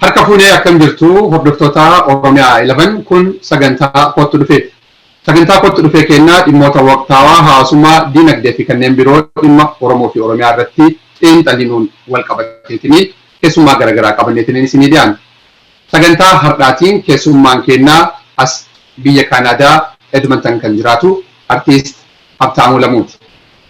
Harka fuunee akkam jirtu hordoftoota Oromiyaa 11 kun sagantaa kottu dhufee. Sagantaa kottu dhufee kennaa dhimmoota waqtaawaa hawaasummaa diinagdee fi kanneen biroo dhimma Oromoo fi Oromiyaa irratti xiinxalinuun wal qabateetinii keessummaa garaagaraa qabanneetiniin isinii dhiyaanna. Sagantaa hardhaatiin keessuummaan keenna as biyya Kaanaadaa Edmonton kan jiraatu Artiist Habtaamuu Lamuuti.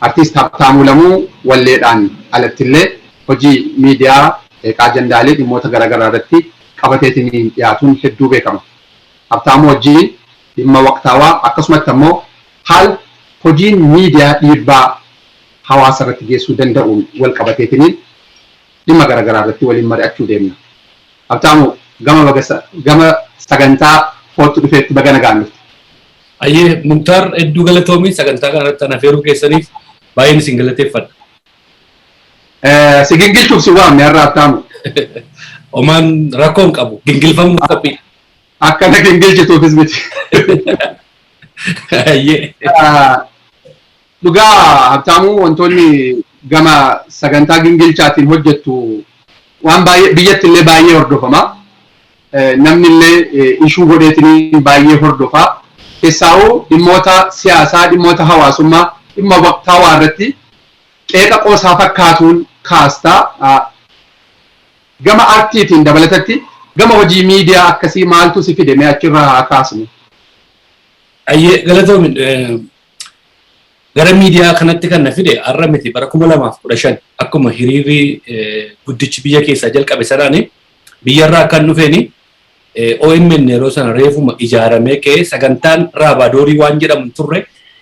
Artiist Habtaamuu Lamuu walleedhaan alattillee hojii miidiyaa qeeqaa ajandaalee dhimmoota garagaraa irratti qabateetiniin dhiyaatuun hedduu beekama. Habtaamuu wajjiin dhimma waqtaawaa akkasumatti ammoo haala hojiin miidiyaa dhiibbaa hawaasa irratti geessuu danda'uun walqabateetiniin dhimma garagaraa irratti waliin mari'achuu deemna. Habtaamu, gama baga gama sagantaa Koottu Dhufeetti baga nagaan dhufte. Hayyee Muktaar hedduu galatoomi sagantaa kana irratti ana feeruu keessaniif baay'een isin galateeffadha. Si gingilchuuf si waamne har'a Habtaamu. Omaan rakkoo hin qabu gingilfamuuf qophiidha. Akka na gingilchituufis miti. Hayyee. Dhugaa Habtaamuu wantoonni gama sagantaa gingilchaatiin hojjettu waan baay'ee biyyatti illee baay'ee hordofama. Namni illee ishuu godheetiin baay'ee hordofa. Keessaawuu dhimmoota siyaasaa, dhimmoota hawaasummaa, dhimma waqtaawaa irratti qeeqa qoosaa fakkaatuun kaasta. Gama artiitiin dabalatatti gama hojii miidiyaa akkasii maaltu si fide mee achirraa haa kaasnu. Ayyee galatoomi Gara miidiyaa kanatti kan na fide har'a miti bara 2015 akkuma hiriirri guddichi biyya keessaa jalqabe sanaani biyyarraa akkan dhufeeni OMN yeroo sana reefuma ijaaramee ka'ee sagantaan raabaadorii waan jedhamu hin turre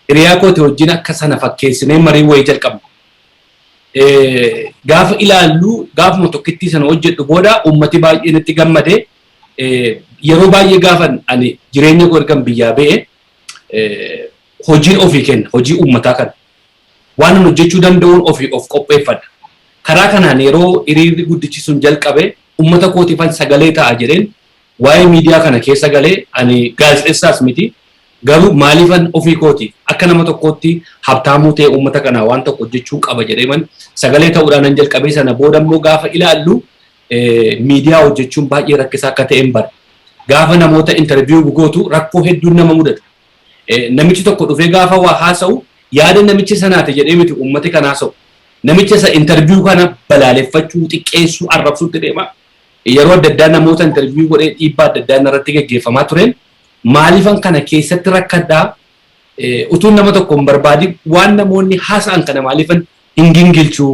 hiriyaa kooti wajjin akka sana fakkeessinee marii wayii jalqabna. Gaafa ilaallu gaafuma tokkittii sana hojjedhu booda uummati baay'een itti gammade yeroo baay'ee gaafan ani jireenya koo ergan biyyaa ba'e hojii ofii kenna, hojii uummataa kana. Waan an hojjechuu danda'uun ofii of qopheeffadha. Karaa kanaan yeroo hiriirri guddichi sun jalqabe uummata kootiifan sagalee ta'a jedheen waa'ee miidiyaa kana keessa galee ani gaazexessaas miti garuu maaliifan ofii kootiif akka nama tokkootti habtaamuu ta'e uummata kanaa waan tokko hojjechuun qaba jedheeman sagalee ta'uudhaan nan jalqabee sana booda immoo gaafa ilaallu miidiyaa hojjechuun baay'ee rakkisaa akka ta'een bara. Gaafa namoota interview gootu rakkoo hedduun nama mudata. Namichi tokko dhufee gaafa waa haasa'u yaada namicha sanaati jedhee miti uummati kan haasa'u. Namicha isa interview kana balaaleffachuu, xiqqeessuu, arrabsuutti deema. Yeroo adda addaa namoota interview godhee dhiibbaa adda addaa narratti gaggeeffamaa tureen maaliifan kana keessatti rakkadhaa utuun nama tokko hin barbaadin waan namoonni haasa'an kana maaliifan hin gingilchuu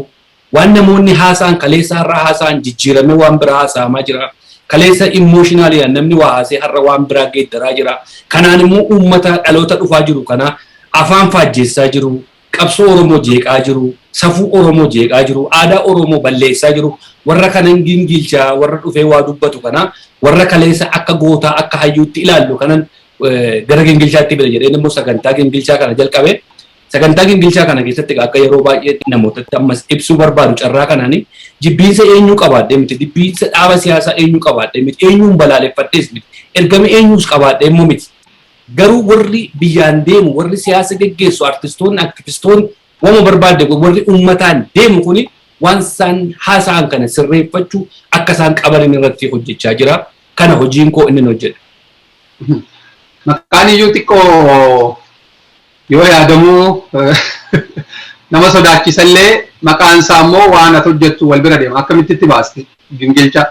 Waan namoonni haasa'an kaleessa har'a haasa'an jijjiiramee waan biraa haasa'amaa jira. Kaleessa immooshinaalidhaan namni waa haasa'ee har'a waan biraa geeddaraa jira. Kanaan immoo uummata dhaloota dhufaa jiru kana afaan faajjeessaa jiru, qabsoo Oromoo jeeqaa jiru, safuu Oromoo jeeqaa jiru, aadaa Oromoo balleessaa jiru. Warra kana hin gingiilcha, warra dhufee waa dubbatu kana warra kaleessa akka gootaa akka hayyuutti ilaallu kanan gara gingilchaatti fida jedheen immoo sagantaa gingilchaa kana jalqabe. Sagantaa gingilchaa kana keessatti egaa akka yeroo baay'ee namootatti ammas ibsuu barbaadu carraa kanaani jibbiinsa eenyuu qabaadhee miti, jibbiinsa dhaaba siyaasaa eenyuu qabaadhee miti, eenyuun balaaleffadhees miti, ergama eenyuus qabaadhee immoo miti. Garuu warri biyyaan deemu, warri siyaasa geggeessu, artistoonni, aktivistoonni, waanuma barbaadde godhi warri uummataan deemu kuni waan isaan haasa'an kana sirreeffachuu akka isaan qabanin irratti hojjechaa jira. Kana hojiin koo innin hojjedha. Maqaan iyyuu xiqqoo Yoo yaadamu nama sodaachisallee maqaan isaa immoo waan ati hojjettu wal bira deema. Akkamitti itti baaste gingilchaa?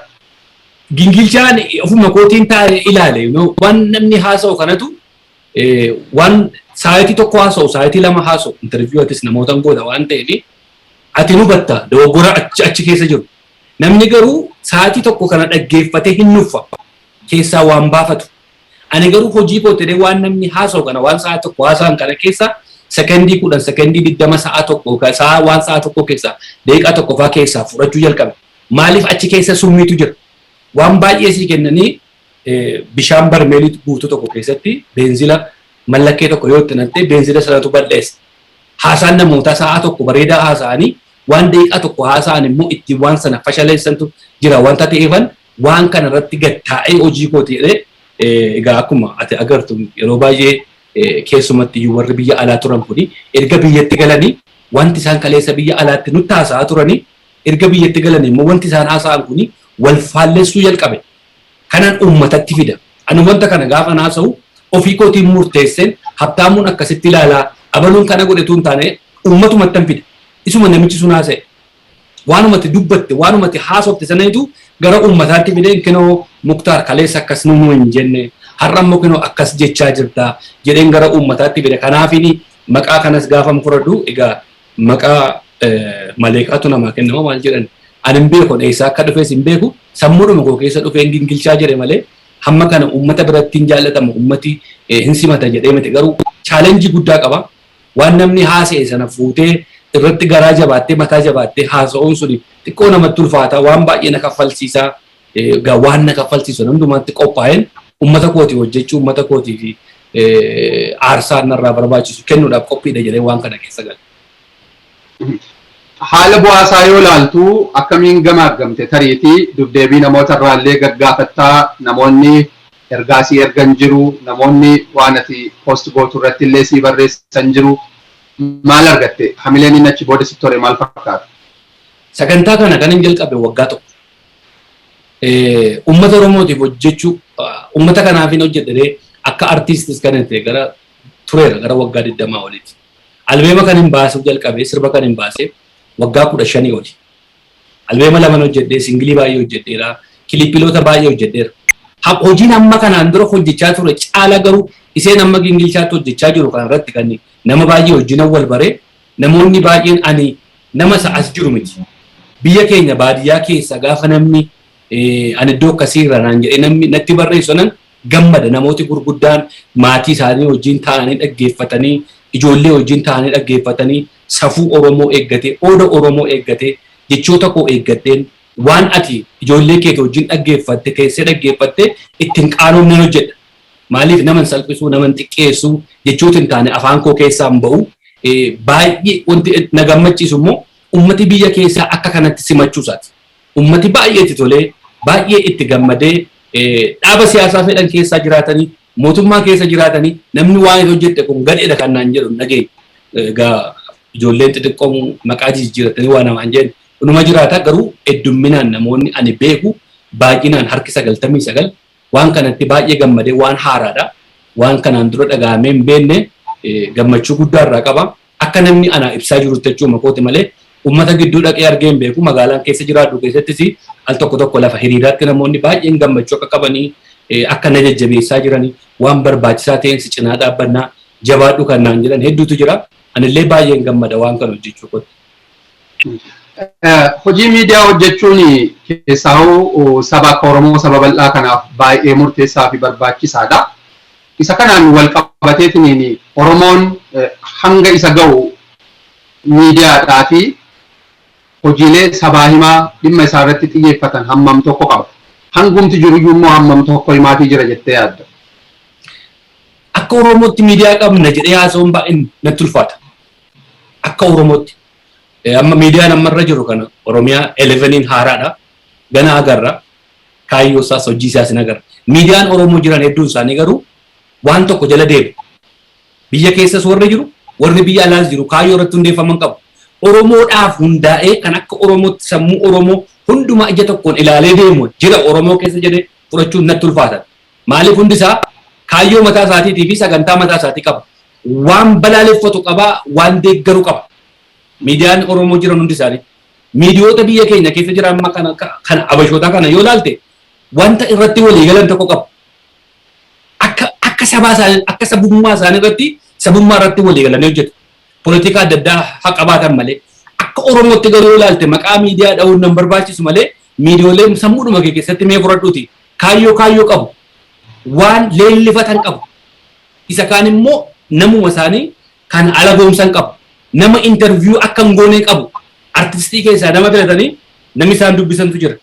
Gingilchaan ofuma kootiin taa'e ilaale. You know, waan namni haasa'u kanatu eh, waan saayitii tokko haasa'u saayitii lama haasa'u interviyuu atis namootan goota waan ta'eef ati hin hubatta dogoggora achi achi keessa jiru. Namni garuu saayitii tokko kana dhaggeeffatee hin nuffa keessaa waan baafatu. Ani garuu hojii koo ta'ee waan namni haasa'u kana waan sa'a tokko haasa'an kana keessa sekondii kudhan sekondii digdama sa'a tokko sa'a waan sa'a tokko keessa daqiiqaa tokko faa keessaa fudhachuu jalqabe. Maaliif achi keessa summiitu jira. Waan baay'ee sii kennanii bishaan barmeelii guutuu tokko keessatti beenzila mallakkee tokko yoo itti naqxee beenzila sanatu balleessa. Haasaan namootaa sa'a tokko bareedaa haasa'anii waan daqiiqaa tokko haasa'an immoo ittiin waan sana fashaleessantu jira wanta ta'eefan waan kana irratti gad taa'ee hojii kooti jedhee egaa akkuma ati agartu yeroo baay'ee keessumatti iyyuu warri biyya alaa turan kuni erga biyyatti galanii wanti isaan kaleessa biyya alaatti nutti haasa'aa turanii erga biyyatti galanii immoo wanti isaan haasa'an kuni wal faallessuu jalqabe. Kanaan uummatatti fida. Ani wanta kana gaafa haasa'u ofii kootiin murteesseen habtaamuun akkasitti ilaalaa abaluun kana godhetu hin taane uummatumatti hin fida. Isuma namichi sun haasa'e Waanuma ati dubbatte, waanuma ati haasofte sanatu gara uummataatti fidee kinoo Muktaar kaleessa akkas nuun hin jenne, har'a immoo kinoo akkas jechaa jirta jedheen gara uummataatti fide. Kanaafiin maqaa kanas gaafan fudhadhu egaa maqaa maleeqaatu namaa kennama maal jedhan ani hin beeku, eessaa akka dhufes hin beeku, sammuudhuma koo keessa dhufeen gingilchaa jedhe malee hamma kana uummata biratti hin jaallatamu, uummati hin simata jedhee miti garuu challenge guddaa qaba. Waan namni haasa'e sana fuutee irratti garaa jabaattee mataa jabaattee haasa'uun suni xiqqoo namatti ulfaata. Waan baay'ee na kaffalsiisa. Egaa waan na kaffalsiisu sana hundumaatti qophaa'een uummata kootiif hojjechuu, uummata kootiif aarsaa narraa barbaachisu kennuudhaaf qophiidha jedheen waan kana keessa gale. Haala bu'aa isaa yoo ilaaltu akkamiin gamaaggamte? Tariitii dubdeebii namoota irraa illee gaggaafatta. Namoonni Ergaa sii ergan jiru, namoonni waan ati post gootu irratti illee sii barreessan jiru. Maal argatte? Hamileen inni achi booda sitti hore maal fakkaata? Sagantaa kana kanan jalqabe waggaa tokko. Uummata Oromootiif hojjechuu, uummata kanaafin hojjedha jedhee akka artiistis kanan itti gara tureera gara waggaa 20 oliiti. Albeema kanin baasuu jalqabe, sirba kanin baase waggaa 15 oli. Albeema laman hojjedhe, singilii baay'ee hojjedheera, kilippiloota baay'ee hojjedheera. Ha- Hojiin amma kanaan dura hojjechaa ture caala garuu iseen amma gingilchaatti hojjechaa jiru kana irratti kan nama baay'ee wajjinan wal bare namoonni baay'een ani nama isa as jiru miti. Biyya keenya baadiyyaa keessa gaafa namni eh, ani iddoo akkasii irra naan jedhee namni natti barreessu sanan gammada namooti gurguddaan maatii isaanii wajjin taa'anii dhaggeeffatanii ijoollee wajjin taa'anii dhaggeeffatanii safuu Oromoo eeggatee, ooda Oromoo eeggatee, jechoota koo eeggadheen waan ati ijoollee keetii wajjin dhaggeeffatte, teessee dhaggeeffatte itti hin qaanofneen hojjedha. Maaliif nama hin salphisu, nama hin xiqqeessu, jechooti hin taane afaan koo keessaa hin ba'u. Baay'ee wanti na gammachiisu immoo ummati biyya keessaa akka kanatti simachuu isaati. Ummati baay'ee itti tolee, baay'ee itti gammadee dhaaba siyaasaa fedhan keessaa jiraatanii, Mootummaa keessa jiraatanii namni waan hin hojjette kun gadheedha kan naan jedhu hin dhageenye. Egaa ijoolleen xixiqqoon maqaa jijjiirratanii waa namaan jedhan inuma jiraata garuu heddumminaan namoonni ani beeku baay'inaan harki 99 waan kanatti baay'ee gammadee waan haaraadha. Waan kanaan dura dhaga'amee hin beekne gammachuu guddaa irraa qaba. Akka namni anaa ibsaa jirutti jechuuma kooti malee ummata gidduu dhaqee argee hin beeku. Magaalaan keessa jiraadhu keessattis al tokko tokko lafa hiriiraatti namoonni baay'een gammachuu akka qabanii akka na jajjabeessaa jiran waan barbaachisaa ta'een si cinaa dhaabbanna jabaadhu kan naan jedhan hedduutu jira. Anillee baay'een gammada waan kana hojjechuu kootti. Hojii miidiyaa hojjechuun keessaahuu saba akka Oromoo saba bal'aa kanaaf baay'ee murteessaa fi barbaachisaadha. Isa kanaan walqabateetiniin Oromoon hanga isa gahu miidiyaadhaa fi hojiilee sabaa himaa dhimma isaa irratti xiyyeeffatan hammam tokko qaba? Hangumti jiru iyyuu immoo hammam tokko himaafii jira jettee yaadda? Akka Oromootti miidiyaa qabna jedhee haasa'uun baay'een natti ulfaata. Akka Oromootti. Amma miidiyaan amma irra jiru kana Oromiyaa 11n haaraadha. Gana agarra. kaayyoo isaas hojii isaas hin agarre. Miidiyaan Oromoo jiran hedduun isaanii garuu waan tokko jala deemu. Biyya keessas warri jiru, warri biyya alaas jiru kaayyoo irratti hundeeffaman qabu. Oromoodhaaf hundaa'ee kan akka Oromootti sammuu Oromoo hundumaa ija tokkoon ilaalee deemu jira Oromoo keessa jedhee fudhachuun natti ulfaata. Maaliif hundi isaa kaayyoo mataa isaatiitii fi sagantaa mataa isaatii qaba. Waan balaaleffatu qaba, waan deeggaru qaba. Miidiyaan Oromoo jiran hundi isaanii. miidiyoota biyya keenya keessa jira amma kana kana abashootaa kana yoo ilaalte wanta irratti walii galan tokko qabu. Akka akka sabaa isaanii akka sabummaa isaanii irratti sabummaa irratti walii galanii hojjetu. Poolitikaa adda addaa haa qabaatan malee akka Oromootti garuu yoo ilaalte maqaa miidiyaa dha'uun nan barbaachisu malee miidiyooleen sammuudhuma kee keessatti mee fudhadhuuti kaayyoo kaayyoo qabu waan leellifatan qabu. Isa kaan immoo namuma isaanii kan alagoomsan qabu. Nama interview akka hin goone qabu. Artistii keessaa nama filatanii namni isaan dubbisantu jira.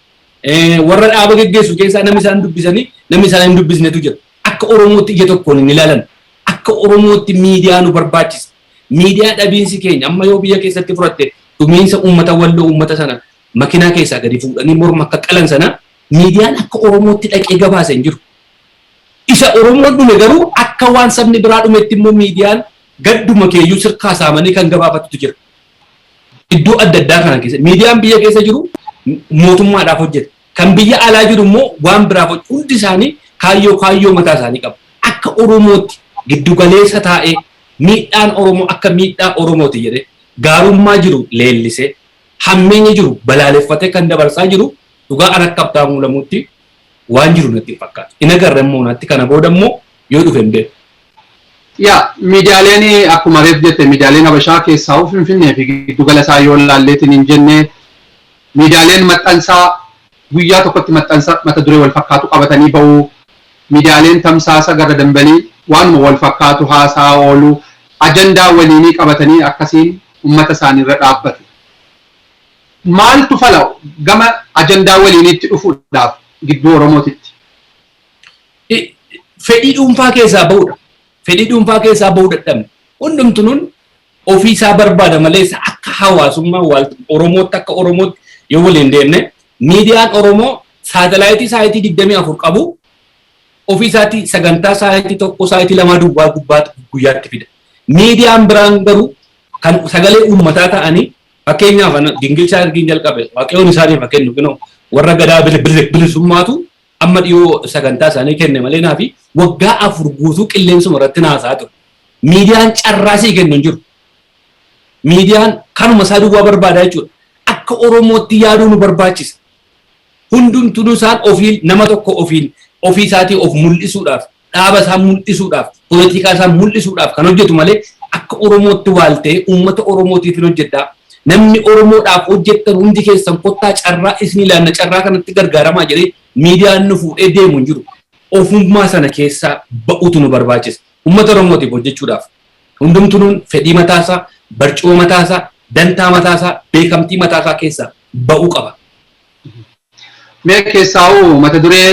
Warra dhaaba geggeessu keessaa namni isaan dubbisanii namni isaan hin dubbisnetu jira. Akka Oromootti ija tokkoon hin ilaalan. Akka Oromootti miidiyaa nu barbaachisa. Miidiyaa dhabiinsi keenya amma yoo biyya keessatti fudhatte dhumiinsa uummata walloo uummata sana makinaa keessaa gadi fuudhanii morma akka qalan sana miidiyaan akka Oromootti dhaqee gabaasa hin jiru. Isa Oromoon dhume garuu akka waan sabni biraa dhumetti immoo miidiyaan gadduma kee iyyuu sirkaa saamanii kan gabaafatutu jira. Iddoo adda addaa kana keessa miidiyaan biyya keessa jiru mootummaadhaaf hojjeta. Kan biyya alaa jiru immoo waan biraaf hojjeta. Hundi isaanii kaayyoo kaayyoo mataa isaanii qabu. Akka Oromootti giddu galeessa taa'ee miidhaan Oromoo akka miidhaa Oromooti jedhee gaarummaa jiru leellisee hammeenya jiru balaaleffatee kan dabarsaa jiru dhugaa an akka Habtaamuu Lamuutti waan jiru natti hin fakkaatu. Hin agarre immoo natti kana booda immoo yoo dhufe hin beeku. Yaa miidiyaaleen akkuma reef jette miidiyaaleen Habashaa keessaa'uu Finfinnee fi giddu gala isaa yoo ilaalleetiin hin jenne miidiyaaleen maxxansaa guyyaa tokkotti maxxansa mata duree wal fakkaatu qabatanii ba'u. Miidiyaaleen tamsaasa gara dambalii waanuma wal fakkaatu haasaa oolu ajandaa waliinii qabatanii akkasiin uummata isaanii irra dhaabbatu. Maaltu fala gama ajandaa waliiniitti dhufuudhaaf gidduu Oromootitti? Fedhii dhuunfaa keessaa bahudha. Fedhii dhuunfaa keessaa bahuu dadhabne. Hundumtunuun ofii isaa barbaada malee isa akka hawaasummaa waalta Oromootti akka Oromootti yoo waliin deemne miidiyaan Oromoo saatalaayitii saayitii digdamii afur qabu ofii isaatii sagantaa saayitii tokko saayitii lamaa duwwaa gubbaatti guyyaatti fida. Miidiyaan biraan garuu kan sagalee uummataa ta'anii Fakkeenyaaf ana gingilchaa ergiin jalqabe waaqayyoon isaaniif haa kennu kunoo warra gadaa bili- bili- bilisummaatu amma dhiyoo sagantaa isaanii kenne malee naafi waggaa afur guutuu qilleensuma irratti naasaa ture. Miidiyaan carraa sii kennu hin jiru. Miidiyaan kanuma isaa duwwaa barbaada jechuudha. Akka Oromootti yaaduu nu barbaachisa. Hundumtuu isaan ofiin nama tokko ofiin ofii isaatii of mul'isuudhaaf dhaaba isaa mul'isuudhaaf, politikaa isaa mul'isuudhaaf kan hojjetu malee akka Oromootti waal ta'ee uummata Oromootiifin hojjedha, namni Oromoodhaaf hojjettan hundi keessan kottaa carraa isinii laanna carraa kanatti gargaaramaa jedhee miidiyaa inni fuudhee deemu hin jiru. Ofummaa sana keessaa ba'uutu nu barbaachisa. Uummata Oromootiif hojjechuudhaaf hundumtunuun fedhii mataa isaa, barcuma mataa isaa, dantaa mataa isaa, beekamtii mataa isaa keessaa ba'uu qaba. Mee keessaa'uu mata duree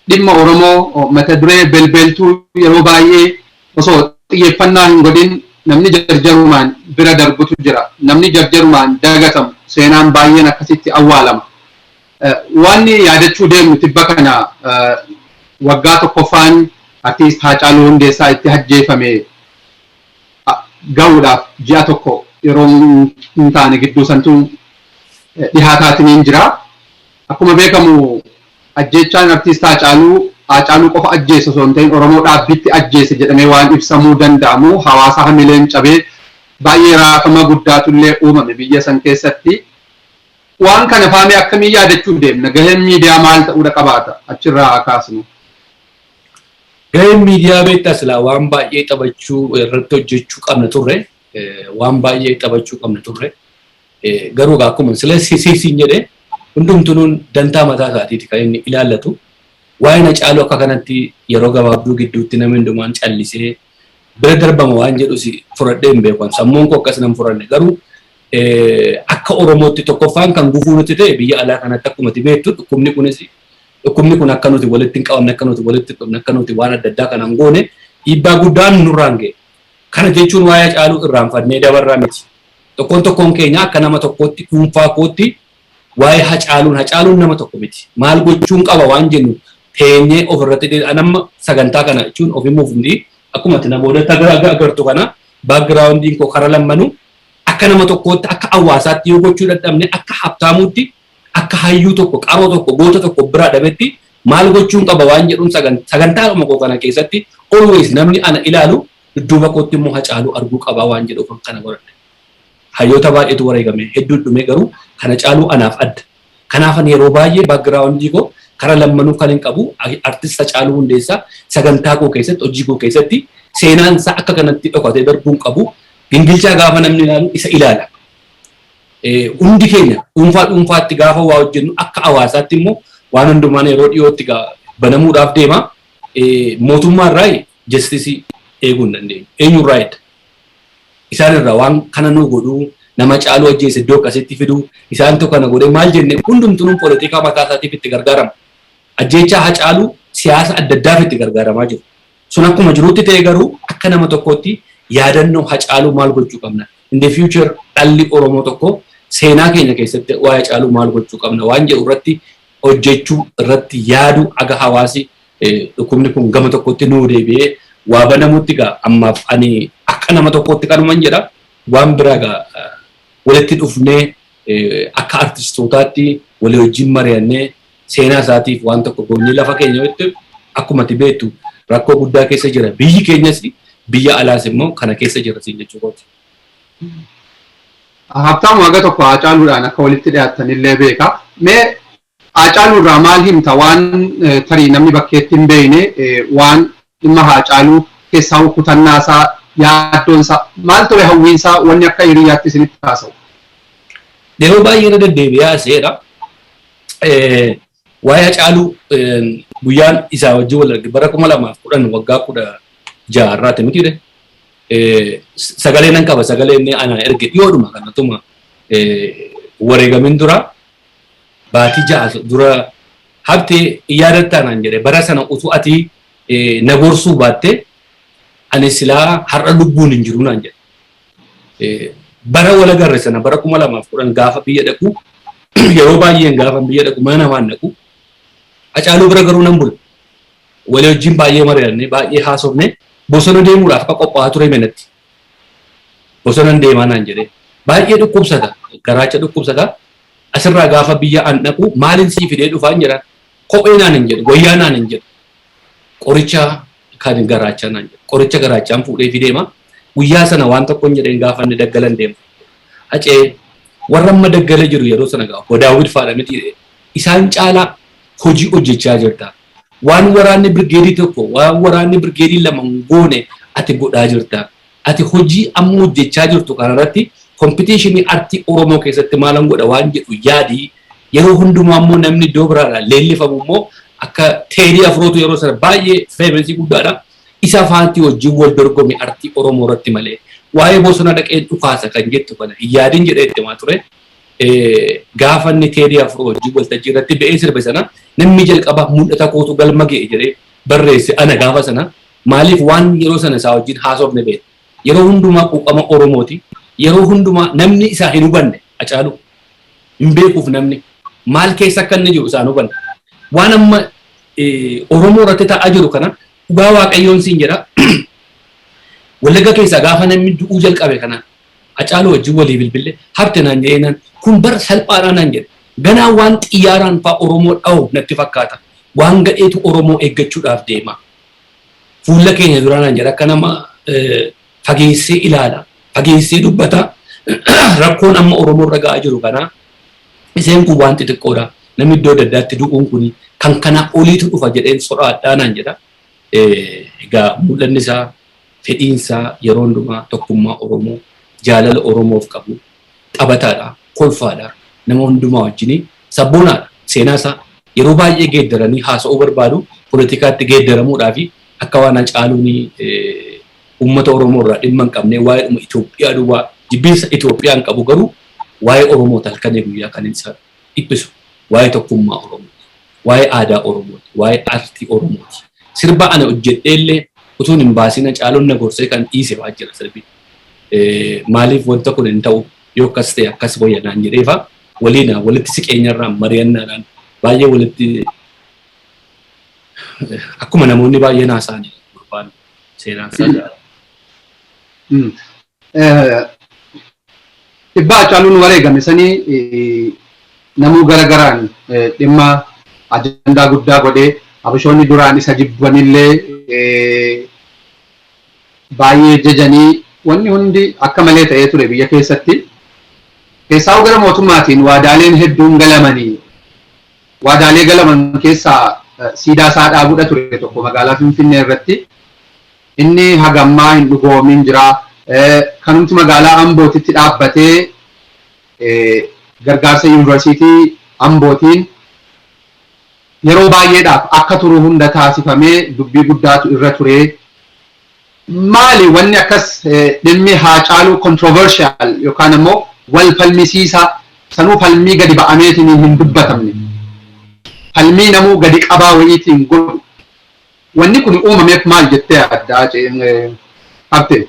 dhimma Oromoo mata duree belbeeltuu yeroo baay'ee osoo xiyyeeffannaa hin godhin namni jarjarumaan bira darbutu jira. Namni jarjarumaan dagatamu seenaan baay'een akkasitti awwaalama. Waanni yaadachuu deemnu tibba kana waggaa tokkoffaan Artiist Haacaaluu Hundeessaa itti ajjeefame. ga'uudhaaf ji'a tokko yeroo hin taane gidduu santu dhihaataatiniin jira. Akkuma beekamu ajjeechaan artiist Haacaaluu Haacaaluu qofa ajjeese osoo hin ta'in Oromoo dhaabbiitti ajjeese jedhamee waan ibsamuu danda'amu hawaasa hamileen cabee baay'ee raafama guddaatu illee uumame biyya san keessatti. Waan kana faamee akkamiin yaadachuu deemna? Gaheen miidiyaa maal ta'uudha qabaata? Achirraa haa kaasnu. Gaheen miidiyaa beektaa silaa waan baay'ee taphachuu irratti hojjechuu qabna turre waan baay'ee taphachuu qabna turre garuu akkuma sila sisiisiin jedhe hundumtunuun dantaa mataa isaatiiti kan inni ilaallatu waa'ina caaluu akka kanatti yeroo gabaabduu gidduutti namni hundumaan callisee bira darbama waan jedhus fudhadhee hin beekan sammuun koo akkas nan fudhanne garuu akka Oromootti tokkoffaan kan gufuu nutti ta'e biyya alaa kanatti akkumatti beektu dhukkubni kunis Dhukkubni kun akka nuti walitti hin qabamne, akka nuti walitti hin dhufne, akka nuti waan adda addaa kana hin goone dhiibbaa guddaan nurraan ga'e. Kana jechuun waa'ee Hacaaluu irraanfannee dabarra miti. Tokkoon tokkoon keenya akka nama tokkootti, dhuunfaa kootti waa'ee Hacaaluun, Hacaaluun nama tokko miti. Maal gochuun qaba waan jennu teenyee ofirratti dhiyeessu. Ani amma sagantaa kana jechuun of himuuf miti. Akkuma ati na boodatti agartu kana backgroundiin koo kara lammanu akka nama tokkootti, akka hawaasaatti yoo gochuu dadhabne, akka habtaamuutti akka hayyuu tokko, qaroo tokko, goota tokko of biraa dhabetti maal gochuun qaba waan jedhun sagan sagantaadhuma koo kana keessatti always namni ana ilaalu dudduuba kootti immoo Hacaaluu arguu qabaa waan jedhuufan kana godhadhe. Hayyoota baay'eetu wareegame hedduun dhumee garuu kan Hacaaluu anaaf adda. Kanaafan yeroo baay'ee background koo kara lammanuu kan hin qabu artist Hacaaluu Hundeessaa sagantaa koo keessatti hojii koo keessatti seenaan isaa akka kanatti dhokatee darbuu hin qabu. Gingilchaa gaafa namni ilaalu isa ilaala. Hundi keenya dhuunfaa dhuunfaatti gaafa waa hojjennu akka hawaasaatti immoo waan hundumaan yeroo dhiyootti banamuudhaaf deema. Mootummaa irraa jastisii eeguu hin dandeenyu. Eenyu irraa edda? Isaan irraa waan kana nuu godhuu nama caaluu ajjeese iddoo akkasitti fiduu isaantu kana godhe maal jenne hundumtuun poolitikaa mataa isaatiif itti gargaarama. Ajjeechaa hacaaluu siyaasa adda addaaf itti gargaaramaa jiru. Sun akkuma jirutti ta'ee garuu akka nama tokkootti yaadannoo Hacaaluu maal gochuu qabna? In the future dhalli Oromoo tokko seenaa keenya keessatti waa'ee Hacaaluu maal gochuu qabna waan jedhu irratti hojjechuu irratti yaadu aga hawaasi dhukkubni kun gama tokkotti nuu deebi'ee waa banamutti gaa ammaaf ani akka nama tokkootti kanuman jedha waan biraa gaa walitti dhufnee akka artistootaatti walii wajjin mari'annee seenaa isaatiif waan tokko goonee lafa keenya irratti akkuma ati beektu rakkoo guddaa keessa jira. Biyyi keenyas biyya alaas immoo kana keessa jira siin jechuu kooti. Habtaamu haga tokko Haacaaluudhaan akka walitti dhiyaattan illee beeka. Mee Haacaaluu irraa maal himta waan tarii namni bakkeetti hin beekne waan Dhimma Haacaaluu, keessaahuu kutannaasaa, yaaddoonsaa, maal ture hawwiinsaa wanni akka hiriyyaatti isinitti haasa'u? Yeroo baay'ee irra deddeebi'ee haasa'eera. Waa'ee Hacaaluu guyyaan isaa wajjin wal arge bara kuma lamaaf kudhan waggaa kudha ja'a irraati miti jedhe. Sagalee nan qaba sagalee inni anaa erge dhiyoodhuma kanatuma wareegamin dura baatii ja'a dura Habte hin yaadattaa naan jedhe bara sana utuu ati na gorsuu baatte ani silaa har'a lubbuun hin jiru naan jedhe. Bara wal agarre sana bara 2010 gaafa biyya dhaqu yeroo baay'een gaafan biyya dhaqu mana namaan dhaqu Hacaaluu bira garuu nan bula. Walii wajjin baay'ee mari'anne baay'ee haasofne bosona deemuudhaaf akka qophaa'aa ture hime natti. bosonan deemaa naan jedhee. Baay'ee dhukkubsata, garaacha dhukkubsata. Asirraa gaafa biyya an dhaqu maalin sii fidee dhufaan jedhaan. Kophee naan hin jedhu, wayyaa naan hin jedhu. Qoricha kan garaachaa naan jedhu. Qoricha garaachaan fuudheefi deema. Guyyaa sana waan tokkon jedheen gaafa inni daggalan deema. Hacee warra amma daggala jiru yeroo sana gaa obbo Daawwit faadha miti isaan caalaa hojii hojjechaa jirta. Waan waraanni birgeedii tokko, waan waraanni birgeedii lama hin goone ati godhaa jirta. Ati hojii amma hojjechaa jirtu kanarratti kompitiishinii artii Oromoo keessatti maalan godha waan jedhu yaadi. Yeroo hundumaa immoo namni iddoo biraadhaa leellifamu immoo akka Teedii Afrootu yeroo sana baay'ee feemesii guddaadha. Isa faanti wajjin wal dorgomi artii Oromoo irratti malee waa'ee bosona dhaqeen dhukaasa kan jettu kana hin yaadin jedhee itti himaa ture. gaafa inni Teedii Afroo wajjin waltajjii irratti ba'ee sirbe sana namni jalqaba mul'ata kootu galma ga'e jedhee barreesse ana gaafa sana maaliif waan yeroo sana isaa wajjin haasofne beekna. Yeroo hundumaa quuqama Oromooti. Yeroo hundumaa namni isaa hin hubanne Hacaaluu hin beekuuf namni maal keessa akka inni jiru isaan hubanne. Waan amma Oromoo irratti ta'aa jiru kana dhugaa waaqayyoon siin jedha. Wallagga keessaa gaafa namni du'uu jalqabe kana Hacaaluu wajjin walii bilbille habte naan jedheenaan kun bar salphaadhaa naan jedhe. Ganaa waan xiyyaaraan faa Oromoo dhahu natti fakkaata. Waan gadheetu Oromoo eeggachuudhaaf deema. Fuulla keenya dura naan jedhe akka nama fageessee ilaala. Fageessee dubbata. Rakkoon amma Oromoo irra ga'aa jiru kanaa iseen kun waan xixiqqoodha. Namni iddoo adda addaatti du'uun kun kan kanaa oliitu dhufa jedheen sodaadhaa naan jedha. Egaa mul'anni isaa Fedhiin isaa yeroo hundumaa tokkummaa Oromoo, jaalala Oromoof qabu, taphataadha, kolfaadha, nama hundumaa wajjini, sabboonaadha. Seenaa isaa yeroo baay'ee geeddaranii haasa'uu barbaadu, poletikaatti geeddaramuudhaafi akka waan Hacaaluun uummata Oromoo irraa dhimma hin qabnee waa'eedhuma Itoophiyaa duwwaa jibbiinsa Itoophiyaan qabu garuu waa'ee Oromooti halkanii guyyaa kan inni isa dhiphisu waa'ee tokkummaa Oromooti. Waa'ee aadaa Oromooti. Waa'ee aartii Oromooti. Sirba ani hojjedheellee utuun hin baasiin Hacaaluun na gorsee kan dhiise fa'aa jira sirbi. Maaliif wanta kun hin ta'u yoo akkas ta'e akkas wayya naan jedhee fa'aa waliin walitti siqeenyarraan mari'annaadhaan baay'ee walitti akkuma namoonni baay'een haasa'an gurbaan seenaan isaa Dhibbaa Hacaaluun wareegame sanii namuu gara garaan dhimma ajandaa guddaa godhee Habashoonni duraan isa jibbanillee baay'ee jajanii wanni hundi akka malee ta'ee ture biyya keessatti. Keessaa'uu gara mootummaatiin waadaaleen hedduun galamanii waadaalee galaman keessaa siidaa isaa dhaabudha ture tokko magaalaa Finfinnee irratti. Inni haga ammaa hin dhugoomin jira. Kanumti magaalaa Ambootitti dhaabbatee gargaarsa Yuunivarsiitii Ambootiin yeroo baay'eedhaaf akka turu hunda taasifamee dubbii guddaatu irra ture. Maali wanni akkas dhimmi Haacaaluu controversial yookaan ammoo wal falmisiisaa sanuu falmii gadi ba'ameetiin hin dubbatamne? Falmii namuu gadi qabaa wayiitiin godhu. Wanni kuni uumameef maal jettee yaadda Habtee?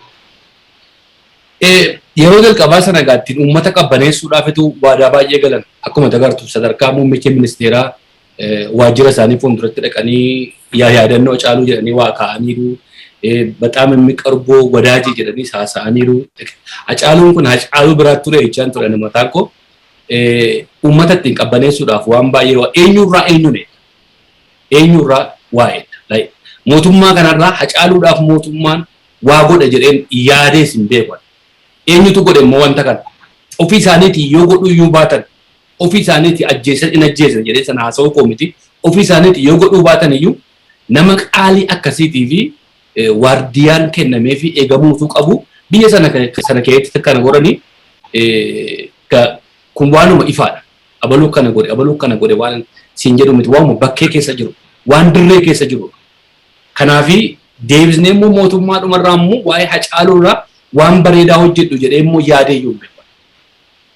Yeroo jalqabaa sana egaa ittiin uummata qabbaneessuudhaafitu waadaa baay'ee galan. Akkuma ati agartu sadarkaa muummichi ministeeraa waajjira isaanii fuulduratti dhaqanii yaa yaadannoo Hacaaluu jedhanii waa kaa'aniiru. Baxaam Immiqarboo Wadaajii jedhaniis haasa'aniiru. Hacaaluun kun Hacaaluu biraatti ture jechaan ture ani mataan koo. Uummata ittiin qabbaneessuudhaaf waan baay'ee eenyurraa eenyuun eegna. Eenyu irraa waa eegda? Like mootummaa kana irraa Hacaaluudhaaf mootummaan waa godha jedheen yaadees hin beeku ani. Eenyutu godhe immoo wanta kana? Ofii isaaniitii yoo godhuu iyyuu baatan, ofii isaaniitii ajjeesan hin ajjeesna jedhee sana haasa'uu koo miti. Ofii isaaniitii yoo godhuu baatan iyyuu nama qaalii akkasiitii fi waardiyaan kennameefii eegamuu utuu qabuu biyya sana keessatti kana godhanii kun waanuma ifaa dha. Abalu akkana godhe, abalu akkana godhe waan siin jedhu miti. Waanuma bakkee keessa jiru, waan dirree keessa jirudha. Kanaafi deebisnee immoo mootummaa dhumarraa immoo waa'ee Hacaaluurraa waan bareedaa hojjedhu jedhee immoo yaadeeyyuu hin beeku ani.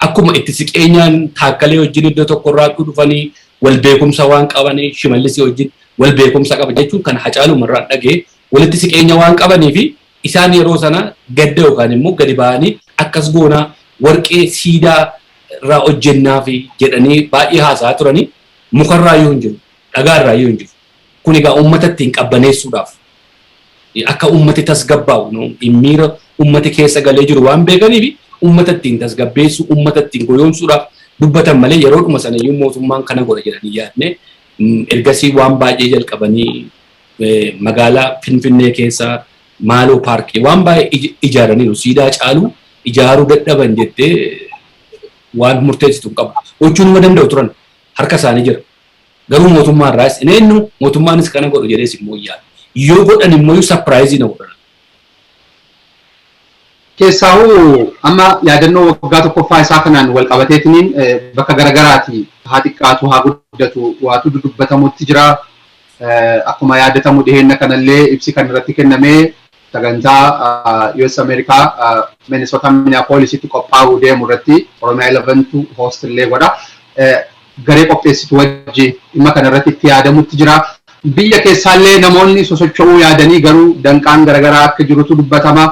Akkuma itti siqeenyaan Taakkalee wajjin iddoo tokkorraattuu dhufanii wal beekumsa waan qabaniif Shimallisii wajjin wal beekumsa qaba jechuun kan Hacaaluumarraan dhaga'e walitti siqeenya waan qabaniifi Isaan yeroo sana gadda yookaan immoo gadi ba'anii akkas goona, warqee siidaa irraa hojjennaaf jedhanii baay'ee haasa'aa turani. Muka irraa iyyuu hin jiru, dhagaa irraa iyyuu hin jiru. Kun egaa uummata ittiin qabbaneessuudhaaf, akka uummati tasgabbaa'u, miira uummati keessa galee jiru waan beekaniif uummata ittiin tasgabbeessuu, uummata ittiin goyoomsuudhaaf dubbatan malee yeroodhuma sana iyyuu mootummaan kana godha jedhanii hin yaadne. Ergasii waan baay'ee jalqabanii. magaalaa Finfinnee keessa maaloo paarkii waan baay'ee ijaaraniiru siidaa caalu ijaaruu dadhaban jettee waan murteessitu hin qabu. Gochuu nama danda'u turan harka isaanii jira. Garuu mootummaa irraas hin eenyu mootummaanis kana godhu jedhee si immoo hin yaadu. Yoo godhan immoo sapiraayizii na godhan. Keessaahuu amma yaadannoo waggaa tokkoffaa isaa kanaan walqabateetiniin bakka garagaraati haa xiqqaatu haa guddatu waatu dudubbatamutti jira. Akkuma yaadatamu dhiheenna kanallee ibsi kan irratti kenname sagantaa US America Minnesota Minneapolis itti qophaa'uu deemu irratti Oromia 11 tu host illee godha. garee qopheessitu wajjiin dhimma kana irratti itti yaadamutti jira. Biyya keessaallee namoonni sosocho'uu yaadanii garuu danqaan garagaraa akka jirutu dubbatama.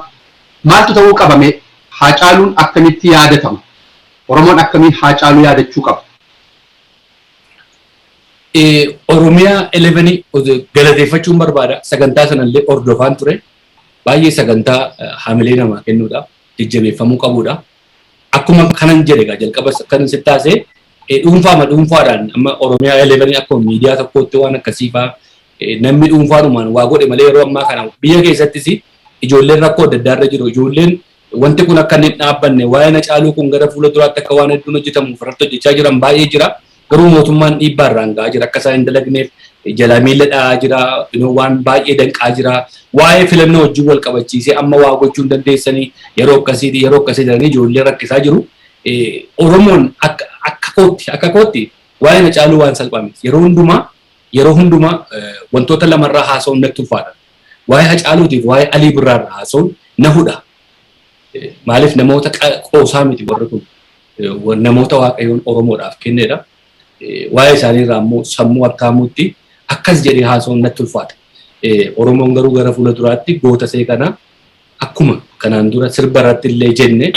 Maaltu ta'uu qaba mee? Haacaaluun akkamitti yaadatama? Oromoon akkamiin Haacaaluu yaadachuu qaba? Oromia 11 galateeffachuun barbaada. Sagantaa sanallee hordofaan ture. Baay'ee sagantaa hamilee namaa kennuudha. Jajjabeeffamuu qabuudha. Akkuma kanan jedhe egaa jalqabas akkan sitti haasee eh, dhuunfaama dhuunfaadhaan amma Oromiyaa Elevenii akkuma miidiyaa tokkootti waan akkasii fa'aa eh, namni dhuunfaadhumaan waa godhe malee yeroo ammaa kana biyya keessattis ijoolleen rakkoo adda addaa irra jiru. Ijoolleen wanti kun akka inni hin dhaabbanne waa'een hacaaluu kun gara fuula duraatti akka waan hedduun hojjetamuuf irratti hojjechaa jiran baay'ee jira. Garuu mootummaan dhiibbaa irraan ga'aa jira. Akka isaa hin dalagneef jalaa miila dha'aa jira. Waan baay'ee danqaa jira. Waa'ee filannoo wajjin wal qabachiisee amma waa gochuu hin dandeessanii yeroo akkasiiti yeroo akkasii jedhanii ijoollee rakkisaa jiru. Oromoon akka kootti akka kootti waa'een Hacaaluu waan salphaa miti. Yeroo hundumaa yeroo hundumaa wantoota lamarraa haasa'uun natti ulfaata. Waa'ee Hacaaluutiif waa'ee Alii Birraarraa haasa'uun na hudha. Maaliif namoota qoosaa miti warri kun. namoota waaqayyoon Oromoodhaaf kennedha. Waa'ee isaanii irraa immoo sammuu harkaamuutti akkas jedhee haasa'uun natti ulfaata. Oromoon garuu gara fuula duraatti goota isee kana akkuma kanaan dura sirba irratti illee jenne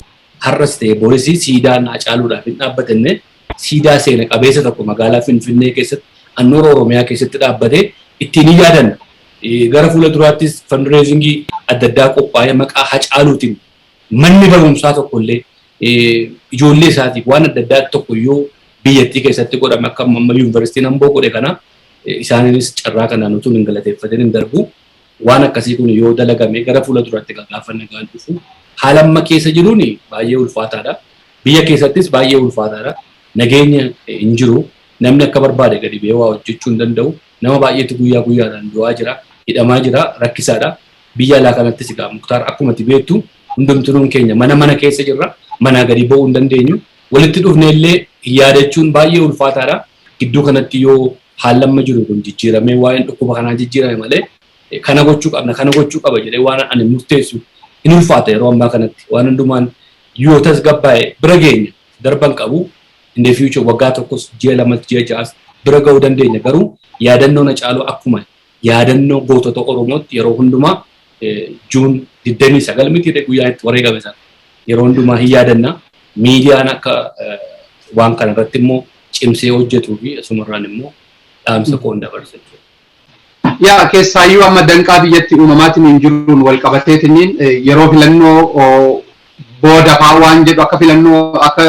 har'as ta'e boris siidaan Hacaaluudhaaf hin dhaabbatenne siidaa seena qabeessa tokko magaalaa Finfinnee keessatti annoora Oromiyaa keessatti dhaabbatee ittiin hin yaadanna. Gara fuula duraattis fandireezingii adda addaa qophaa'ee maqaa Hacaaluutiin manni barumsaa tokko illee ijoollee isaatiif waan adda addaa tokko iyyuu biyyattii keessatti godhame akka amma yuunivarsiitiin Amboo godhe kana isaaniinis carraa kanaan utuu hin galateeffatin hin darbu. Waan akkasii kun yoo dalagame gara fuula duraatti gaafa nagaan dhufu haala amma keessa jiruun baay'ee ulfaataadha. Biyya keessattis baay'ee ulfaataadha. Nageenya hin jiru. Namni akka barbaade gadi ba'ee waa hojjechuu hin danda'u. Nama baay'eetu guyyaa guyyaadhaan du'aa jira. Hidhamaa jira. Rakkisaadha. Biyya alaa kanattis egaa Muktaar akkuma ati beektu hundumtinuun keenya mana mana keessa jirra. Manaa gadi ba'uu hin dandeenyu. Walitti dhufnee illee yaadachuun baay'ee ulfaataa dha. Gidduu kanatti yoo haalli amma jiru kun jijjiiramee waa'een dhukkuba kanaa jijjiirame malee kana gochuu qabna, kana gochuu qaba jedhee waan ani murteessu hin ulfaata yeroo ammaa kanatti. Waan hundumaan yoo tasgabbaa'e bira geenya. Darba hin qabu. In the future waggaa tokkos, ji'a lamas, ji'a ja'as bira ga'uu dandeenya. Garuu yaadannoon Hacaaluu akkuma Yaadannoo gootota Oromootti yeroo hundumaa June 29 mitiiree guyyaa itti wareegame sana yeroo hundumaa hin yaadanna. Miidiyaan akka waan kana irratti immoo cimsee hojjetuu fi asumarraan immoo dhaamsa koon dabarsa jechuudha. Yaa keessaayyuu amma danqaa biyyatti uumamaatiin hin jiruun wal qabateetiin yeroo filannoo booda fa'aa waan jedhu akka filannoo akka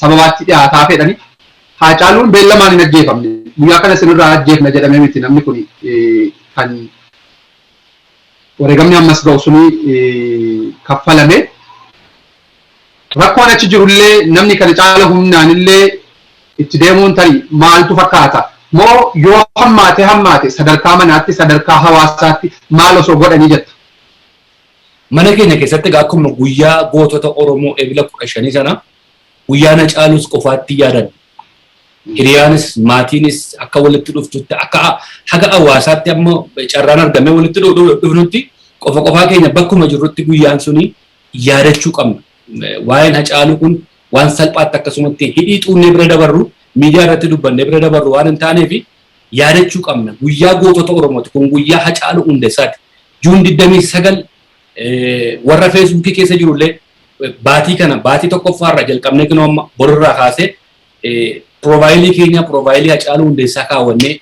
sababaatti dhiyaataa fedhani. Haacaaluun beellamaan hin ajjeefamne. Guyyaa kana isin irraa ajjeefna jedhamee miti namni kuni kan wareegamni ammas ga'u suni kaffalame. Rakkoon achi jiru illee namni kana caala humnaan illee itti deemuun tari maaltu fakkaata? Moo yoo hammaate hammaate sadarkaa manaatti sadarkaa hawaasaatti maal osoo godhanii jetta? Mana keenya keessatti egaa akkuma guyyaa gootota Oromoo Ebla 15 sana Guyyaa na caalus qofaattin yaadan. Hiriyaanis, maatiinis akka walitti dhuftutti akka haga awaasaatti amma carraan argamee walitti dhufnutti qofa qofaa keenya bakkuma jirrutti guyyaan suni yaadachuu qabna. Waa'een Hacaaluu kun waan salphaatti akkasumatti hidhii xuunnee bira dabarru, miidiyaa irratti dubbannee bira dabarru waan hin taaneef yaadachuu qabna. Guyyaa gootota Oromooti. Kun guyyaa Hacaaluu Hundessaati. June 29 Warra feesbuukii keessa jiru illee baatii kana baatii tokkoffaa irraa jalqabnee kunoo amma bor irraa kaasee piroofaayilii keenya piroofaayilii Hacaaluu Hundeessaa kaawwannee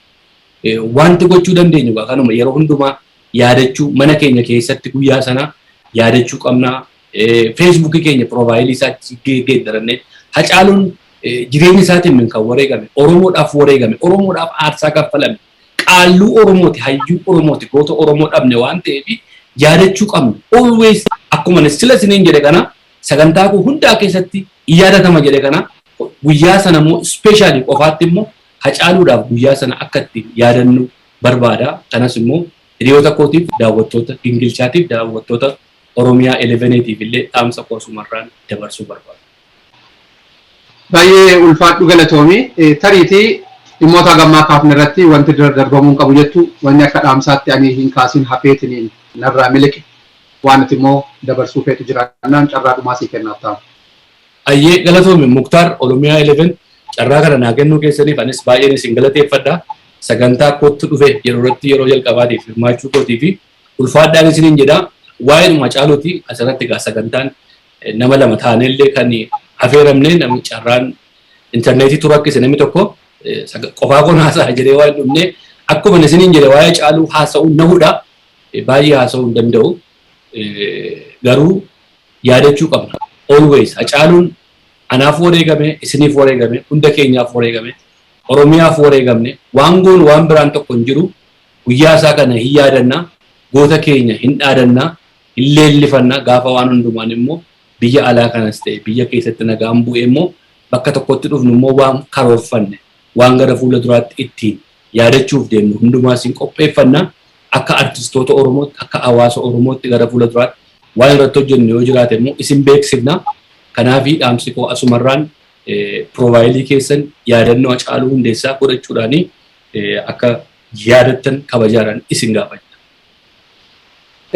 wanti gochuu dandeenyu egaa kanuma yeroo hundumaa yaadachuu mana keenya keessatti guyyaa sana yaadachuu qabna. Feesbuukii keenya piroofaayilii isaa geeddarannee Hacaaluun jireenya isaatiin min kan wareegame Oromoodhaaf wareegame Oromoodhaaf aarsaa kaffalame qaalluu Oromooti, hayyuu Oromooti, goota Oromoo dhabne waan ta'eef yaadachuu qabna. Always akkuma ani sila isiniin jedhe kana sagantaa koo hundaa keessatti hin yaadatama jedhe kana guyyaa sana immoo ispeeshaalii qofaatti immoo hacaaluudhaaf guyyaa sana akka itti yaadannu barbaada. Kanas immoo hiriyoota kootiif daawwattoota gingilchaatiif daawwattoota Oromiyaa 11 tiif illee dhaamsa koo asumarraan dabarsuu barbaada. Baay'ee ulfaadhu galatoomi. Tariiti dhimmoota haga ammaa kaafne irratti wanti dura darbamuu hin qabu jettu wanni akka dhaamsaatti ani hin kaasin hafeetiniin narraa miliqe waan ati immoo dabarsuu feetu jiraannaan carraa dhumaa sii kenna Habtaam. Hayyee galatoomi Muktaar Oromiyaa 11 carraa kana naa kennuu keessaniif anis baay'een isin galateeffadha. Sagantaa Kottu Dhufe jedhu irratti yeroo jalqabaatiif hirmaachuu kootiifi ulfaadhaan isiniin jedha. Waa'eedhuma Hacaaluuti asirratti egaa sagantaan Nama lama taanee illee kan afeeramne namni carraan intarneetii tu rakkise namni tokko qofaa koon haasa'a jedhee waan dhufne akkuma isiniin jedhe waa'ee caaluu haasa'uun na hudha baay'ee haasa'uu hin danda'u garuu yaadachuu qabna always hacaaluun anaaf wareegame isiniif wareegame hunda keenyaaf wareegame oromiyaaf wareegamne waan goonu waan biraan tokko hin jiru guyyaa isaa kana hin yaadanna goota keenya hin dhaadanna Hin leellifanna, gaafa waan hundumaan immoo biyya alaa kanas ta'e biyya keessatti nagaan bu'e immoo bakka tokkotti dhufnu immoo waan karoorfanne, waan gara fuula duraatti ittiin yaadachuuf deemnu hundumaas hin qopheeffanna. Akka artistoota Oromootti, akka hawaasa Oromootti gara fuula duraatti waan irratti hojjennu yoo jiraate immoo isin beeksifna. Kanaafi dhaamsi koo asumarraan piroofaayilii keessan yaadannoo Hacaaluu Hundeessaa godhachuudhaan akka yaadattan kabajaadhaan isin gaafanna.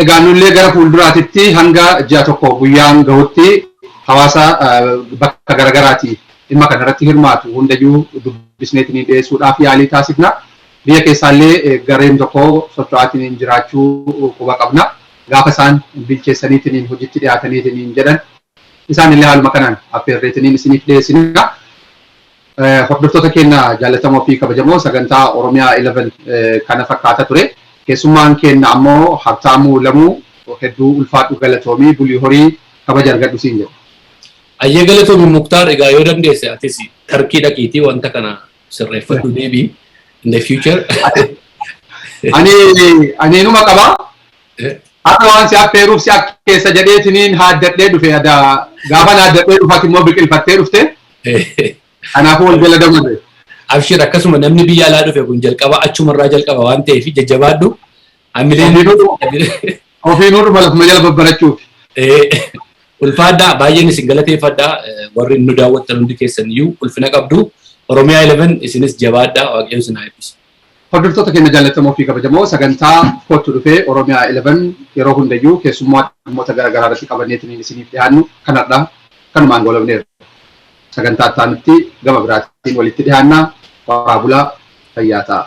Egaa nullee gara fuulduraatitti hanga ji'a tokko guyyaan gahutti hawaasa bakka garagaraatii dhimma kana irratti hirmaatu hundayyuu dubbisneetinii dhiyeessuudhaaf yaalii taasifna. Biyya keessaallee gareen tokko socho'aatiniin jiraachuu quba qabna. Gaafa isaan bilcheessaniitiniin hojitti dhiyaataniitiniin jedhan isaanillee haaluma kanaan affeerreetiniin isiniif dhiyeessina. Hordoftoota keenna jaallatamoo fi kabajamoo sagantaa Oromiyaa 11 kana fakkaata ture. Keessummaan keenna ammoo Habtaamuu Lamuu hedduu ulfaadhu galatoomi bulii horii kabaja argadhu siin jedha. Hayyee galatoomi Muktaar egaa yoo dandeesse atis Tarkii dhaqiitii wanta kana sirreeffadhu deebi'i in the future. Ani ani inuma qaba Har'a waan si affeeruuf si akkeessa jedheetiniin haaddadhee dhufe ada gaafa haaddadhee dhufati immoo biqilfattee dhufte kanaafuu wal jala dabarre. Abshir akkasuma namni biyya alaa dhufe kun jalqaba achumarraa jalqaba waan ta'eef jajjabaadhu hamileen Ofiinuu dhuma lafuma jala babbarachuuf. ulfaadhaa baay'een isin galateeffadhaa warri nu daawwattan hundi keessan iyyuu ulfina qabdu Oromiyaa 11 isinis jabaadhaa waaqayyo isin haa eebbisu. Hordoftoota keenya jaallatamoo fi kabajamoo sagantaa Kottu Dhufe Oromia 11 yeroo hundayyuu keessummoa dhimmoota gara garaa irratti qabanneetiniin isiniif dhihaannu kan hardhaa kanumaan goolabneerra. Sagantaa itti aanutti gama biraatiin walitti dhihaanna. Horaa bulaa fayyaa ta'aa.